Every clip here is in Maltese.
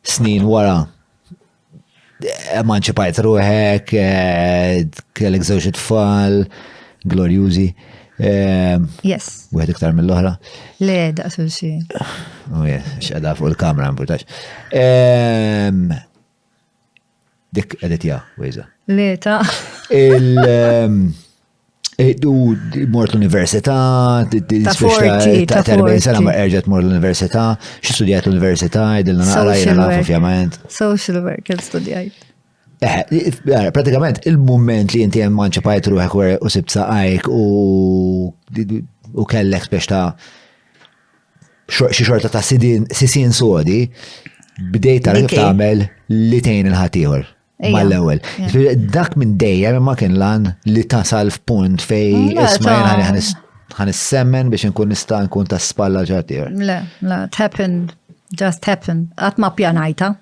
Snin wara, emanċipajt ruħek, eh, kellek żewġ tfal, glorjużi. Eh, yes. Wieħed iktar mill-oħra. Le, daqsu xi. Oh, yes, x'qeda fuq il-kamra, mbutax. Ehm, Dik edit ja, wejza. Le ta. U mort l-università, ta' 40 sena ma erġet mort l-università, xi studjajt l-università, id-dilna naqra jena nafu fjament. Social work, studjajt. Eh, eh, pratikament il-moment li jinti manċa pajt ruħek u sibt saqajk u kellek spiex ta' xi xorta ta' sisin sodi bdejt tara kif tagħmel li tgħin il-ħaddieħor mal-ewwel. Dak minn dejjem ma kien lan li tasal f'punt fej isma' jien ħan semmen biex nkun nista' nkun ta' spalla ġartier. Le, le, it happened, just happened. Qatt ma pjanajta.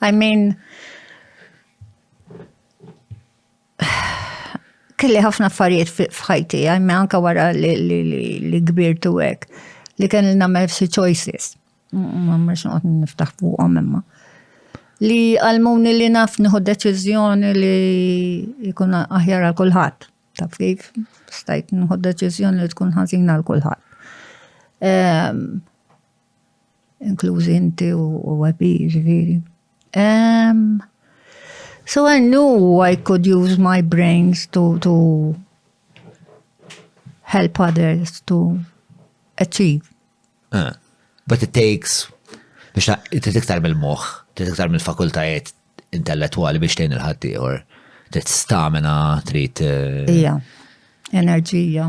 I mean, Kelli ħafna affarijiet f'ħajti, għajme anka wara li kbirtu hekk, li kelli nagħmel f'si choices. Ma mhux noqgħod niftaħ fuqhom imma. Li għalmuni li naf nieħu deċiżjoni li jkun aħjar għal kulħadd. Taf kif? Stajt nieħu deċiżjoni li tkun ħażina għal kulħadd. Ehm, inklużi inti u għabi, ġifieri. Um, so I knew I could use my brains to, to help others to achieve. Uh, but it takes, biex ta' tiktar mill-moħ, tiktar mill-fakultajiet intellettuali biex tejn il-ħaddieħor, trid stamina, trid. Eh, Ija, enerġija.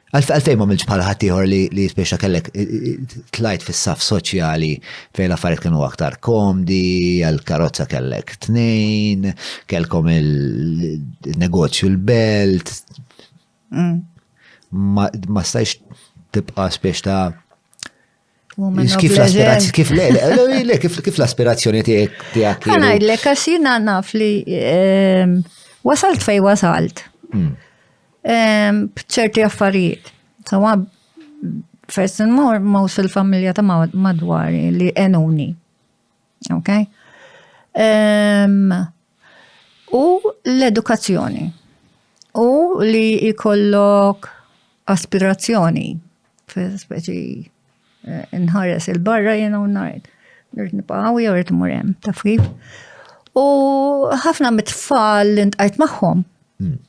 Għalfejn ma milġ bħal ħaddieħor li li jispiċċa kellek tlajt fis-saf soċjali fejn l-affarijiet kienu aktar komdi, għal karozza kellek tnejn, kellkom il-negozju l-belt. Mm. Ma stajx tibqa' spiex ta' Kif l-aspirazzjoni, kif le, le, kif l-aspirazzjoni tiegħek tiegħek. Għana jidlek għax jiena naf li ehm, wasalt fej wasalt. Hmm. Ehm, b'ċerti affarijiet. Sawa first and more most il-familja ta' madwari li enuni. Ok? Um, u l-edukazzjoni. U li jkollok aspirazzjoni fil-speċi eh, nħares il-barra jena u najt. Rrit nipaw, jew rrit murem, taf kif. U ħafna mit-tfal li ntqajt magħhom. Hmm.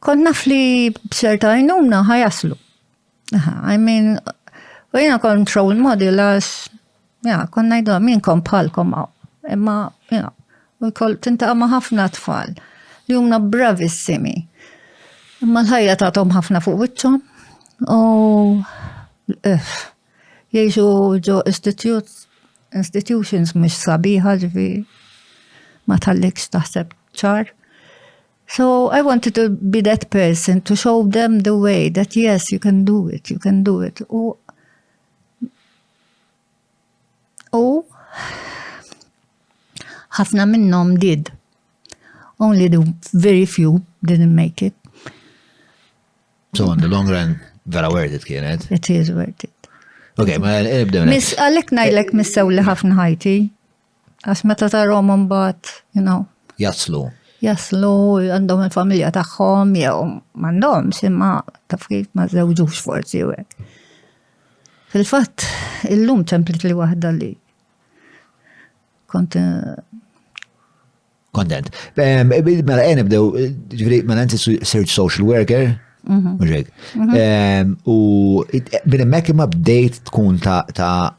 Kont naf li b'ċerta għajnuna ħajaslu. I mean, u jena kont role model għax, ja, kont najdu min kont bħalkom għaw. Imma, ja, u kol tinta ma ħafna tfal li jumna bravissimi. Imma l-ħajja tatom ħafna fuq wiċċhom u eh, jiexu ġo institutions mux sabiħa ġifi ma tal-likx taħseb ċar. So I wanted to be that person to show them the way that yes, you can do it, you can do it. U u ħafna minnhom did. Only the very few didn't make it. So on the long run, vera worth it kienet. It is worth it. Ok, ma nibdew. Miss, għalek najlek missew li ħafna ħajti. Għax meta tarhom imbagħad, you know. Jaslu. Jaslu għandhom il-familja tagħhom jew m'għandhomx imma taf kif ma żewġux forsi u hekk. Fil-fatt, illum ċemplit li waħda li kont eh, Kontent. Ehm, eh, mela, għen eh, ibdew, eh, ġviri, mela, nti search social worker, mhm. muġek. Mhm. Ehm, u minn emmek imma bdejt tkun ta' ta'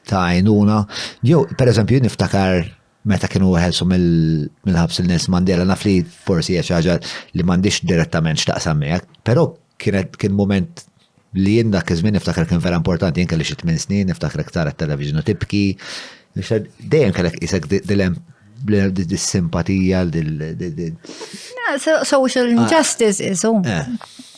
ta' għajnuna. Jo, per eżempju, niftakar meta kienu għelsu mill-ħabs il-Nels Mandela, naf li forsi ħaġa li mandiċ direttament xtaqsam miegħek, pero Kienet kien moment li jien dak iż-żmien niftakar kien vera importanti, jien kelli xi tmien snin, niftakar iktar it-television u tibki. Dejjem kellek isek dilem dis-simpatija dil. Social injustice is eh.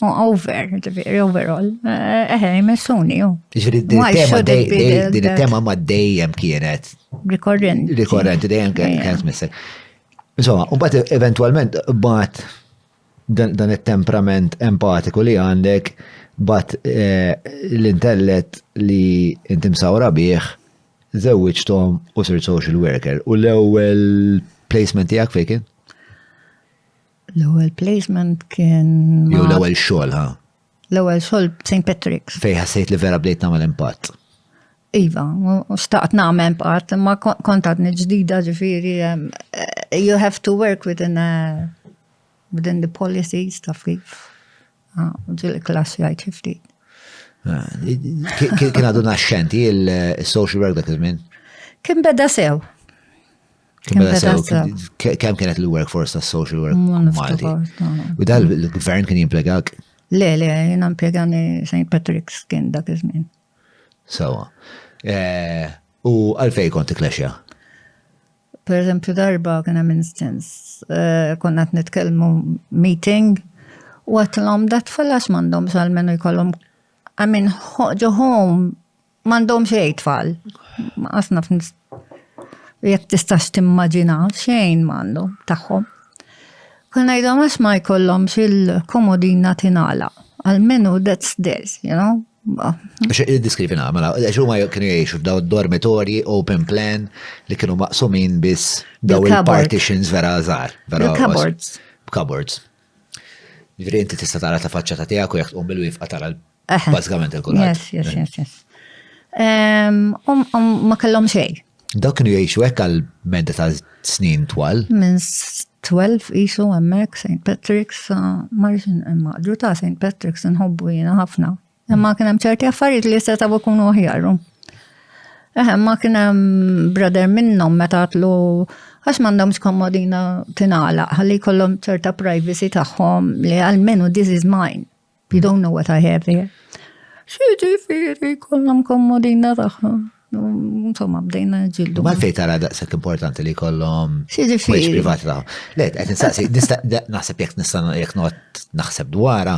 over, ġifieri overall. Eh, eħe, jmessuni ju. Ġifieri din it-tema ma dejjem kienet. Rikorrenti. Rikorrenti dejjem kienet missek. Insomma, un bat eventualment bat dan it-temprament empatiku li għandek bat eh, l-intellet li inti msawra bih zewwiġtom u sir social worker. U l-ewwel placement tiegħek fejn kien? L-ewwel placement kien. Jew l-ewwel xogħol ha? L-ewwel xogħol St. Patrick's. Fejn ħassejt li vera bdejt nagħmel impatt. Iva, xtaqt nagħmel impatt, imma kont għadni ġdida ġifieri eh, you have to work within a, eh, within the policies ta' kif. Ah, ġil klass jgħid xi ftit. Ah, kien għadu naxxenti il-social work dak iż-żmien? Kien beda sew. Kemm beda sew, kemm kienet il-workforce ta' social work Malti. U dal il-gvern kien jimplegak? Le, le, jena mpiegani St. Patrick's kien dak iż-żmien. Sawa. Eh, u għalfej kont klexja? Per eżempju darba kien hemm instance, eh, konna qed nitkellmu meeting u għatlhom dat fallax m'għandhom sal-menu jkollhom I mean, ġo home M'għandhom xejn tfal. Qasna jekk tistax timmaġina xejn m'għandhom tagħhom. Kien ngħidhom għax ma jkollhomx il-komodina tingħala. Almenu that's this, you know? Diskrivi namela, għax huma kienu jgħixu f'daw dormitorji open plan li kienu maqsumin biss daw il-partitions vera żgħar. Cupboards. Cupboards. Ġifieri inti tista' tara ta' faċċa ta' tiegħek u jekk tqum bil-wifqa tara Bażikament il-kulħadd. Yes, yes, yes, yes. Ma kellhom xejn. Dawk kienu jgħixu hekk għal medda ta' snin twal. Minn 12 isu hemmhekk St. Patrick's marġin imma ta' St. Patrick's nħobbu jiena ħafna. Imma kien hemm ċerti affarijiet li jista' tabu kunu aħjaru. Eħe, ma kien hemm brother minnhom meta tlu għax m'għandhomx komodina tingħalaq ħalli jkollhom ċerta privacy tagħhom li għalmenu this is mine. You don't know what I have here. Xieġi firri kollom kommodina taħħa. Insomma, bdejna ġildu. Ma fej tara daqsek importanti li kollom. Xieġi firri. privat taħħa. Le, għet nsaqsi, naħseb jek nista jek not naħseb dwara,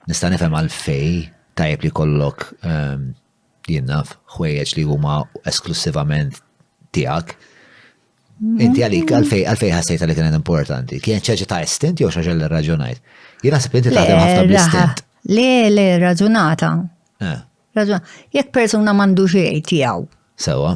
nista nifem għal fej tajb li kollok ehm, Jien naf ħwejjeġ li huma esklussivament tiegħek. Inti għalik, għalfej, għalfej ħassejt għalik kienet importanti. Kien ċaġa ta' istint jew xaġa li raġunajt. Jien naħseb inti taħdem ħafna bl-istint. Le, le, raġunata. Eh. Raġunata. Jekk persuna mandu xejn tiegħu. Sewa.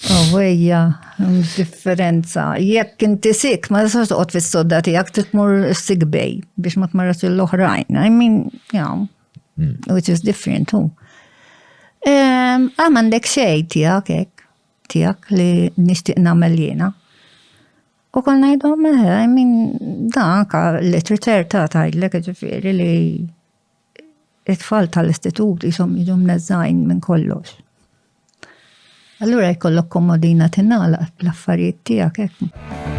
Għawejja, differenza. Jekk inti sik, ma tistax toqgħod fis-sodda tiegħek titmur sik bej biex ma tmarrax l-oħrajn. I mean, you know, hmm. which is different too. Ehm, ah, għandek xej tiegħek hekk, tiegħek li nixtieq nagħmel jiena. U kol ngħidhom, eh, I mean, dan anka literature ta' tgħidlek ġifieri li it-tfal tal-istitut jisom jiġu mneżżajn minn kollox. Allura jkollok komodina tinala l-affarijiet tiegħek hekk.